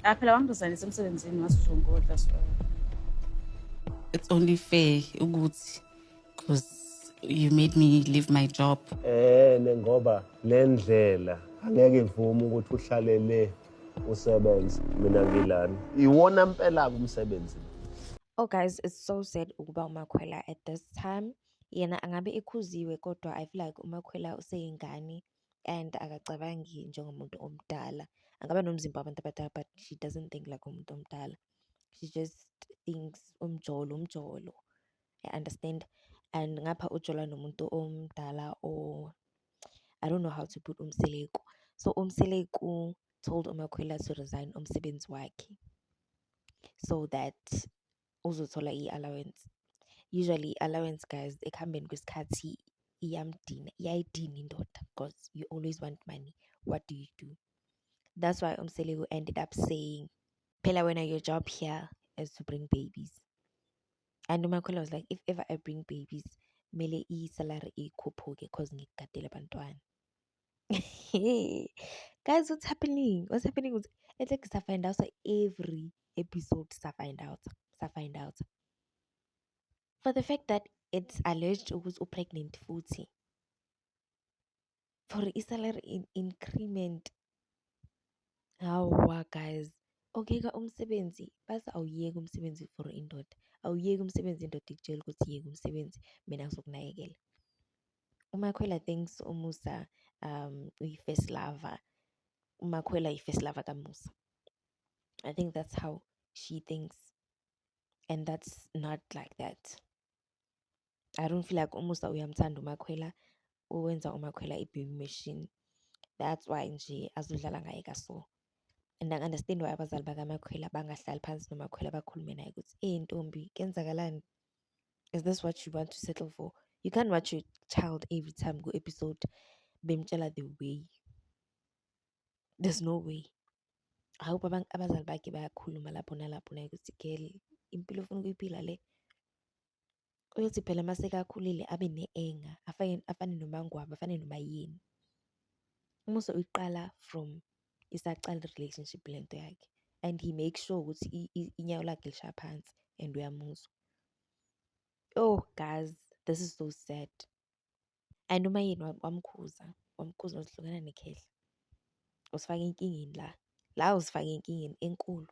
Ah phela wangizalisa emsebenzini ngathi uzongodla so. It's only fair ukuthi cuz you made me leave my job. Eh ngoba lendlela angeke ivume ukuthi uhlale le usebenze mina ngilana. Iwona impela kumsebenzi. Oh guys, it's so sad ukuba uMakhwela at this time. Yena angabe ekhuziwe kodwa I feel like uMakhwela useyingane. and akacabangi njengomuntu omdala. Angaba nomzimba wabantu abadala but she doesn't think like umuntu omdala. She just thinks umjolo, umjolo. I understand and ngapha ujola nomuntu omdala or I don't know how to put uMseleku. So uMseleku told uMakhwela to resign umsebenzi wakhe so that uzothola i-allowance. Usually i-allowance guys ekuhambeni kwesikhathi iyamdina, iyayidina indoda because you always want money. What do you do? That's why uMseleku ended up saying, Phela wena your job here is to bring babies. And uMakhwela was like, if ever I bring babies, mele i-salary ikhuphuke because ngikugadele abantwana. Guys, what's happening? What's happening with it's like sa find out every episode sa find out sa find out for the fact that it's alleged ukuthi upregnant futhi for i-salary in increment hawa guys okuyeka umsebenzi baze awuyeki umsebenzi for indoda awuyeki umsebenzi indoda ikutshela ukuthi yeka umsebenzi mina ngizokunakekela uMakhwela thinks uMusa um uyi-first lover uMakhwela yi-first lover kaMusa I think that's how she thinks and that's not like that I don't feel like uMusa uyamthanda uMakhwela uwenza uMakhwela i-baby machine that's why nje azodlala ngaye kaso and angi-understand why abazali bakamakhwela bangahlali phansi nomakhwela bakhulume naye ukuthi eyi ntombi kenzakalani is this what you want to settle for you can't watch your child every time go episode bemtshela the way there's no way I hope abazali bakhe bayakhuluma lapho nalapho naye ukuthi girl impilo ofuna ukuyiphila le uyothi phela uma sekakhulile abe ne-enga afane nomangwabo afane noma yini umuso uyiqala from isaqala i-relationship le nto yakhe and he make sure ukuthi inyawo lakhe lishaya phansi and uyamuzwa oh guys this is so sad and uma yini wamkhuza wamkhuza uzihlukana nekhehla usifake enkingeni la la usifake enkingeni enkulu